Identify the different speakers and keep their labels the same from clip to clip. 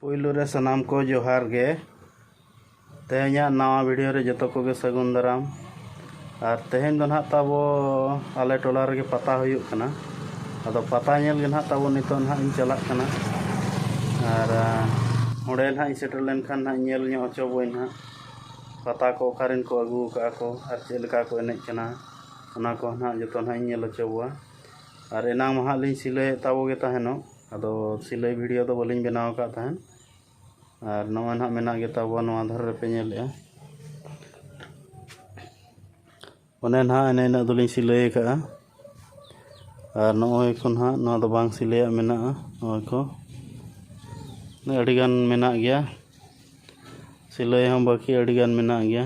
Speaker 1: ᱯᱩᱭᱞᱩ ᱨᱮ ᱥᱟᱱᱟᱢ ᱠᱚ ᱡᱚᱦᱟᱨ ᱜᱮ ᱛᱮᱦᱮᱧᱟᱜ ᱱᱟᱣᱟ ᱵᱷᱤᱰᱤᱭᱳ ᱨᱮ ᱡᱚᱛᱚ ᱠᱚᱜᱮ ᱥᱟᱹᱜᱩᱱ ᱫᱟᱨᱟᱢ ᱟᱨ ᱛᱮᱦᱮᱧ ᱫᱚ ᱱᱟᱦᱟᱜ ᱛᱟᱵᱚ ᱟᱞᱮ ᱴᱚᱞᱟ ᱨᱮᱜᱮ ᱯᱟᱛᱟ ᱦᱩᱭᱩᱜ ᱠᱟᱱᱟ ᱟᱫᱚ ᱯᱟᱛᱟ ᱧᱮᱞ ᱜᱮ ᱱᱟᱦᱟᱜ ᱛᱟᱵᱚ ᱱᱤᱛᱚᱜ ᱱᱟᱦᱟᱜ ᱤᱧ ᱪᱟᱞᱟᱜ ᱠᱟᱱᱟ ᱟᱨ ᱚᱸᱰᱮ ᱱᱟᱦᱟᱜ ᱤᱧ ᱥᱮᱴᱮᱨ ᱞᱮᱱᱠᱷᱟᱱ ᱱᱟᱦᱟᱜ ᱧᱮᱞ ᱧᱚᱜ ᱦᱚᱪᱚ ᱵᱚᱱ ᱱᱟᱦᱟᱜ ᱯᱟᱛᱟ ᱠᱚ ᱚᱠᱟᱨᱮᱱ ᱠᱚ ᱟᱹᱜᱩ ᱟᱠᱟᱫᱼᱟ ᱠᱚ ᱟᱨ ᱪᱮᱫ ᱞᱮᱠᱟ ᱠᱚ ᱮᱱᱮᱡ ᱠᱟᱱᱟ ᱚᱱᱟ ᱠᱚ ᱱᱟᱦᱟᱜ ᱡᱚᱛᱚ ᱱᱟᱦᱟᱜ ᱤᱧ ᱧᱮᱞ ᱦᱚᱪᱚ ᱠᱚᱣᱟ ᱟᱨ ᱮᱱᱟᱝ ᱢᱟ ᱱᱟᱦᱟᱜ ᱞᱤᱧ ᱥᱤᱞᱟᱹᱭᱮᱫ ᱛᱟᱵᱚ ᱜᱮ ᱛᱟᱦᱮᱱᱚᱜ ᱟᱫᱚ ᱥᱤᱞᱟᱹᱭ ᱵᱷᱤᱰᱤᱭᱳ ᱫᱚ ᱵᱟᱹᱞᱤᱧ ᱵᱮᱱᱟᱣ ᱟᱠᱟᱫ ᱛᱟᱦᱮᱱ ᱟᱨ ᱱᱚᱜᱼᱚᱭ ᱱᱟᱦᱟᱜ ᱢᱮᱱᱟᱜ ᱜᱮ ᱛᱟᱵᱚᱣᱟ ᱱᱚᱣᱟ ᱫᱷᱟᱨᱮ ᱨᱮᱯᱮ ᱧᱮᱞᱮᱫᱼᱟ ᱚᱱᱮ ᱱᱟᱦᱟᱜ ᱮᱱᱮ ᱤᱱᱟᱹᱜ ᱫᱚᱞᱤᱧ ᱥᱤᱞᱟᱹᱭ ᱟᱠᱟᱫᱼᱟ ᱟᱨ ᱱᱚᱜᱼᱚᱭ ᱠᱚ ᱱᱟᱦᱟᱜ ᱱᱚᱣᱟ ᱫᱚ ᱵᱟᱝ ᱥᱤᱞᱟᱹᱭᱟᱜ ᱢᱮᱱᱟᱜᱼᱟ ᱱᱚᱜᱼᱚᱭ ᱠᱚ ᱟᱹᱰᱤᱜᱟᱱ ᱢᱮᱱᱟᱜ ᱜᱮᱭᱟ ᱥᱤᱞᱟᱹᱭ ᱦᱚᱸ ᱵᱟᱹᱠᱤ ᱟᱹᱰᱤᱜᱟᱱ ᱢᱮᱱᱟᱜ ᱜᱮᱭᱟ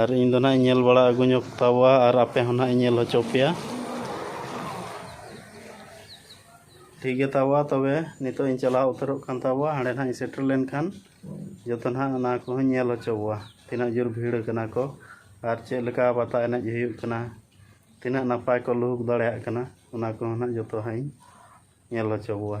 Speaker 1: ᱟᱨ ᱤᱧ ᱫᱚ ᱱᱟᱦᱟᱜ ᱤᱧ ᱧᱮᱞ ᱵᱟᱲᱟ ᱟᱹᱜᱩ ᱧᱚᱜ ᱛᱟᱵᱚᱣᱟ ᱟᱨ ᱟᱯᱮ ᱦᱚᱸ ᱱᱟᱦᱟᱜ ᱤᱧ ᱧᱮᱞ ᱦᱚᱪᱚ ᱯᱮᱭᱟ ᱴᱷᱤᱠ ᱜᱮ ᱛᱟᱵᱚᱣᱟ ᱛᱚᱵᱮ ᱱᱤᱛᱚᱜ ᱤᱧ ᱪᱟᱞᱟᱣ ᱩᱛᱟᱹᱨᱚᱜ ᱠᱟᱱ ᱛᱟᱵᱚᱣᱟ ᱦᱟᱸᱰᱮ ᱱᱟᱦᱟᱜ ᱤᱧ ᱥᱮᱴᱮᱨ ᱞᱮᱱᱠᱷᱟᱱ ᱡᱚᱛᱚ ᱱᱟᱦᱟᱜ ᱚᱱᱟ ᱠᱚᱦᱚᱸᱧ ᱧᱮᱞ ᱦᱚᱪᱚ ᱵᱚᱣᱟ ᱛᱤᱱᱟᱹᱜ ᱡᱳᱨ ᱵᱷᱤᱲ ᱠᱟᱱᱟ ᱠᱚ ᱟᱨ ᱪᱮᱫ ᱞᱮᱠᱟ ᱯᱟᱛᱟ ᱮᱱᱮᱡ ᱦᱩᱭᱩᱜ ᱠᱟᱱᱟ ᱛᱤᱱᱟᱹᱜ ᱱᱟᱯᱟᱭ ᱠᱚ ᱞᱩᱦᱩᱠ ᱫᱟᱲᱮᱭᱟᱜ ᱠᱟᱱᱟ ᱚᱱᱟ ᱠᱚᱦᱚᱸ ᱱᱟᱦᱟᱜ ᱡᱚᱛᱚ ᱦᱟᱸᱜ ᱤᱧ ᱧᱮᱞ ᱦᱚᱪᱚ ᱵᱚᱣᱟ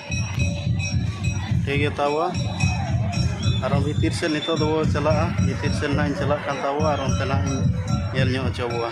Speaker 1: ᱴᱷᱤᱠ ᱜᱮᱭᱟ ᱛᱟᱣᱟ ᱟᱨᱚ ᱵᱷᱤᱛᱤᱨ ᱥᱮᱫ ᱱᱤᱛᱳᱜ ᱫᱚ ᱪᱟᱞᱟᱜᱼᱟ ᱵᱷᱤᱛᱤᱨ ᱥᱮᱫ ᱱᱟᱜ ᱤᱧ ᱪᱟᱞᱟᱜ ᱠᱟᱱ ᱛᱟᱵᱚᱣᱟ ᱟᱨ ᱚᱱᱛᱮ ᱱᱟᱜ ᱤᱧ ᱧᱮᱞ ᱧᱚᱜ ᱦᱚᱪᱚ ᱵᱚᱣᱟ